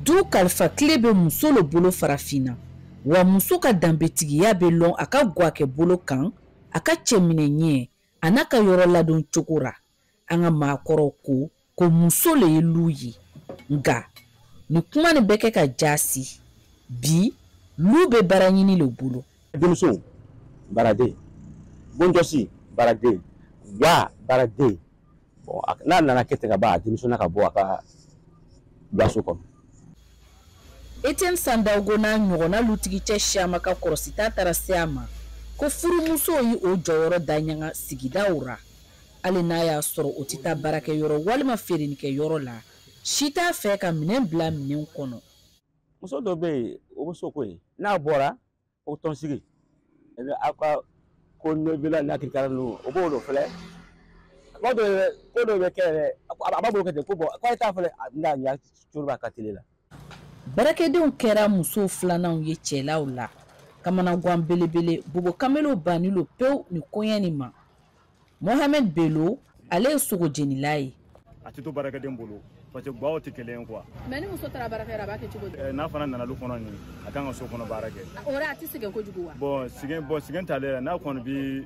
du kalifa tile bɛ muso lo bolo farafinna wa muso ka danbetigiya bɛ lɔn a ka gwakɛ bolo kan a ka cɛminɛ ɲɛ an'a ka yɔrɔ ladon cogo ra an ka maakɔrɔw ko ko muso le ye lu ye nka nin kuma nin bɛ kɛ ka jaasi bi lu bɛ baaraɲini le bolo denmuso baaraden bonjɔsi baaraden gwa baaraden n'a nana kɛ ten ka ban a denmuso na ka bɔ a ka gaso kɔnɔ etienne sandago n'a ɲɔgɔnna lutigi cɛ siyaman ka kɔrɔsita taara se a ma ko furumusow y'o jɔyɔrɔ daɲaga sigidaw ra hali n'a y'a sɔrɔ o tɛ taa baarakɛyɔrɔ walima feerelikɛyɔrɔ la si t'a fɛ ka minɛn bila minɛn kɔnɔ muso dɔ bɛ yen o bɛ so ko ye n'a bɔra o tɔnsigi i bɛ aw ka ko novela n'a kirikara ninnu o b'o dɔ filɛ kuma dɔ yɛrɛ ko dɔ bɛ kɛ yɛrɛ a b'a bolo kɛ ten ko bɔn k'a ye taa filɛ a bɛna ɲa cogo b'a ka tele la baarakɛdenw kɛra musow filananw ye cɛlaw la kamanagwan belebele bobo kamelew bannin lo pewu nin koɲɛ nin ma mohamɛd belo ale ye sogo jenila ye a tɛ to baarakɛden bolo parce que gwaw tɛ kelen ye quoi. mais ni muso taara baara kɛyɔrɔ a b'a kɛ cogo di. Eh, n'a fana nana lu kɔnɔ nin a kan ka so kɔnɔ baara kɛ. o la a tɛ sɛgɛn kojugu wa. bon sɛgɛn bon sɛgɛn t'ale la n'a kɔni bi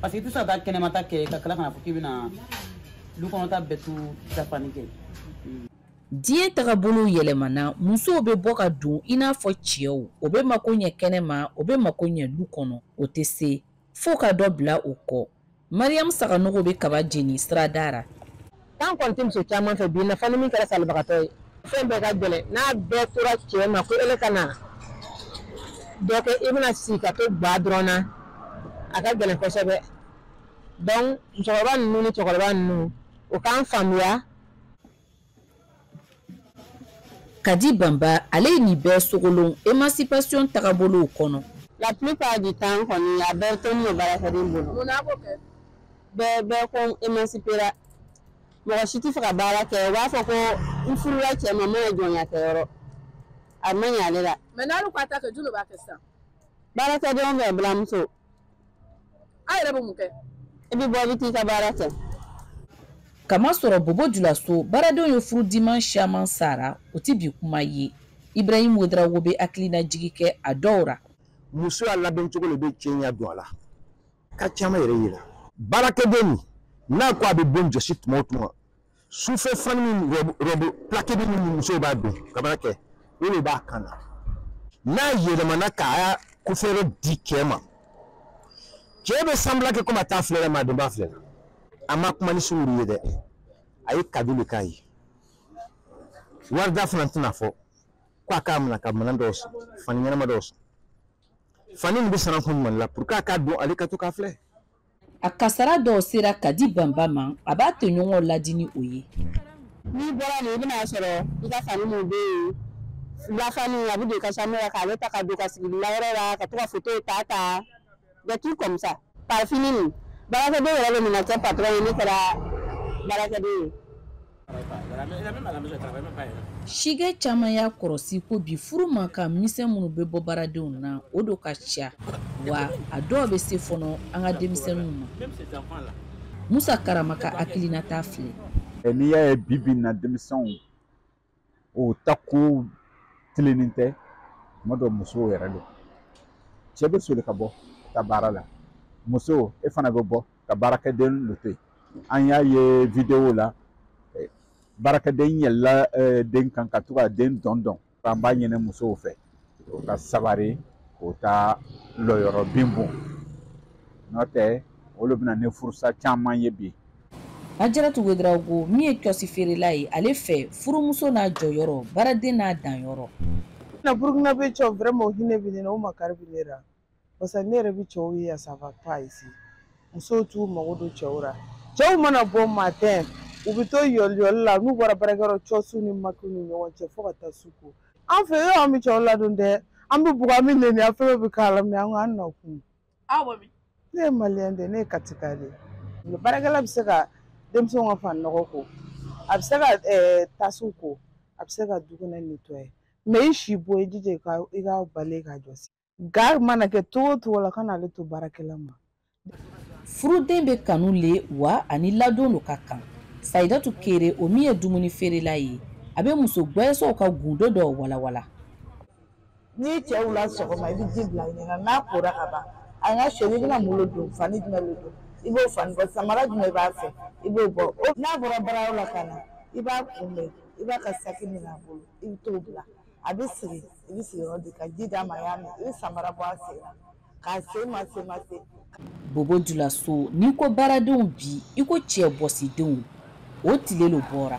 parce que i tɛ se ka taa kɛnɛmata kɛ ka tila ka na fɔ k'i bɛna du kɔnɔta bɛɛ tu dafani kɛ diɲɛ tagabolo yɛlɛmana musow bɛ bɔ ka don i n'a fɔ cɛw o bɛ mako ɲɛ kɛnɛma o bɛ mako ɲɛ du kɔnɔ o tɛ se fo ka dɔ bila o kɔ mariyamu saganogo bɛ kaba jeni sirada ra Temps kɔni tɛ muso caman fɛ bi in na fo ni min kɛra salibagatɔ ye fɛn bɛɛ ka gɛlɛn n'a bɛɛ tora cɛ ma ko ele kana dɔ kɛ i bɛna sigi ka to gba dɔrɔn na a ka gɛlɛn kosɛbɛ donc musokɔrɔba ninnu ni cɛkɔrɔba ninnu o k'an faamuya kadi banba ale ye nin bɛɛ sogolon emancipation tagabolo kɔnɔ la plupart du temps kɔni a bɛɛ tonin ye baarakɛden bolo mun na ko kɛ bɛɛ bɛɛ ko emancipera mɔgɔ si tɛ fɛ ka baara kɛ u b'a fɔ ko n furula cɛ ma n ma na jɔnya kɛyɔrɔ a ma ɲɛ ale la mais n'alu ka ta kɛ julu b'a kɛ sisan baarakɛdenw bɛ bila muso a yɛrɛ bɛ mun kɛ i bɛ bɔ i bɛ t'i ka baara kɛ k'a masɔrɔ bobo julaso baaradenw ye furu diman siyaman sara o tɛ bi kuma ye ibrahim wedarawo bɛ hakilinajigi kɛ a dɔw ra muso y'a labɛn cogo de bɛ cɛ ɲɛ don a la ka caman yɛrɛ yira baarakɛden nin na ko a bɛ bon jɔsi tuma o tuma sufɛ fani min rɔbu plaqué min ni musow b'a don ka baara kɛ o de b'a kan na n'a yɛlɛmana k'a kɔfɛla di cɛ ma cɛ bɛ semblant kɛ komi a t'a filɛ dɛ mɛ a dun b'a filɛ a ma kuma ni sunguru ye dɛ a ye kado de k'a ye warida fana tɛna fɔ ko a k'a minɛ ka minɛn dɔw san fani ɲɛnama dɔw san fani min bɛ san kun mali la pour que a k'a don ale ka to k'a filɛ a kasara dɔw sera Kadi Banba ma a b'a tɔɲɔgɔnw laadi ni o ye n'i bɔra nin i bɛna sɔrɔ i ka fani min bɛ yen lafani a bɛ don i ka chambre la k'ale ta ka don ka sigi i layɔrɔ la ka to ka foto ta ta des trucs comme ça par fini nin baarakɛden yɛrɛ le nana kɛ patɔrɔn ye ne kɛra baarakɛden ye Sikɛ caman y'a kɔrɔsi ko bi furu mankan misɛn minnu bɛ bɔ baaradenw na o don ka ca wa a dɔw bɛ se fana an ka denmisɛnninw ma Musa Karama ka hakilinata filɛ n'i y'a ye bi bi in na denmisɛnw o ta ko tilennen tɛ tuma dɔ musow yɛrɛ lo cɛ bɛ soli ka bɔ ka taa baara la muso e fana bɛ bɔ ka baarakɛden dɔ to yen an y'a ye videwo la baarakɛden yɛlɛla den kan ka to ka den dɔn dɔn an b'a ɲini musow fɛ o ka sabari k'o ta lɔyɔrɔ bin bon n'o tɛ o lo bɛ na ni furusa caman ye bi Ajaratu Wederawogo min ye kiyɔsi feerela ye ale fɛ furumuso n'a jɔyɔrɔ baaraden n'a danyɔrɔ. Na Burukinabɛ cɛw vraiment o hinɛ bɛ ne na o makari bɛ ne la. parce que ne yɛrɛ bɛ cɛw ye yan ça va pas ici musow t'u mago don cɛw la cɛw mana bɔ matin u bɛ to yɔliyɔli la n'u bɔra baarakɛyɔrɔ kiyɔsiw ni makiw ni ɲɔgɔn cɛ fo ka taa su ko an fɛ yɔrɔ an bɛ cɛw ladon dɛ an bɛ bugɔ an bɛ nɛni an fɛn bɛɛ k'a la mɛ an k'an na kun ne ye maliyɛn de ne ye katika de ye baarakɛla bɛ se ka denmisɛnw ka fani nɔgɔ ko a bɛ se ka tasiw ko a bɛ se ka dukɛnɛ netɔye mɛ i sibon i jija i k'a bale k'a jɔsi ga mana kɛ cogo o cogo la kana ale to baarakɛla ma furuden bɛ kanu le wa ani ladon lo ka kan Sayidatu Kere o min ye dumuni feerela ye a bɛ muso gwɛɛsɛw ka gundo dɔw walawala n'i cɛ wulila sɔgɔma i bɛ ji bila ɲɛgɛn na n'a kora ka ban a ka chéri i bɛna mun lo don fani jumɛn bɛ don i b'o fani bɔ samara jumɛn i b'a fɛ i b'o bɔ n'a bɔra baarayɔrɔ la ka na i b'a kunbɛn i b'a ka saki minɛ a bolo i bɛ t'o bila a bɛ sigi i bɛ sigiyɔrɔ di ka ji d'a ma a y'a min i bɛ samara bɔ a sen na k'a sen mase mase. Bobo Julaso n'i ko baaradenw bi i ko cɛbɔsidenw o tile lo bɔra.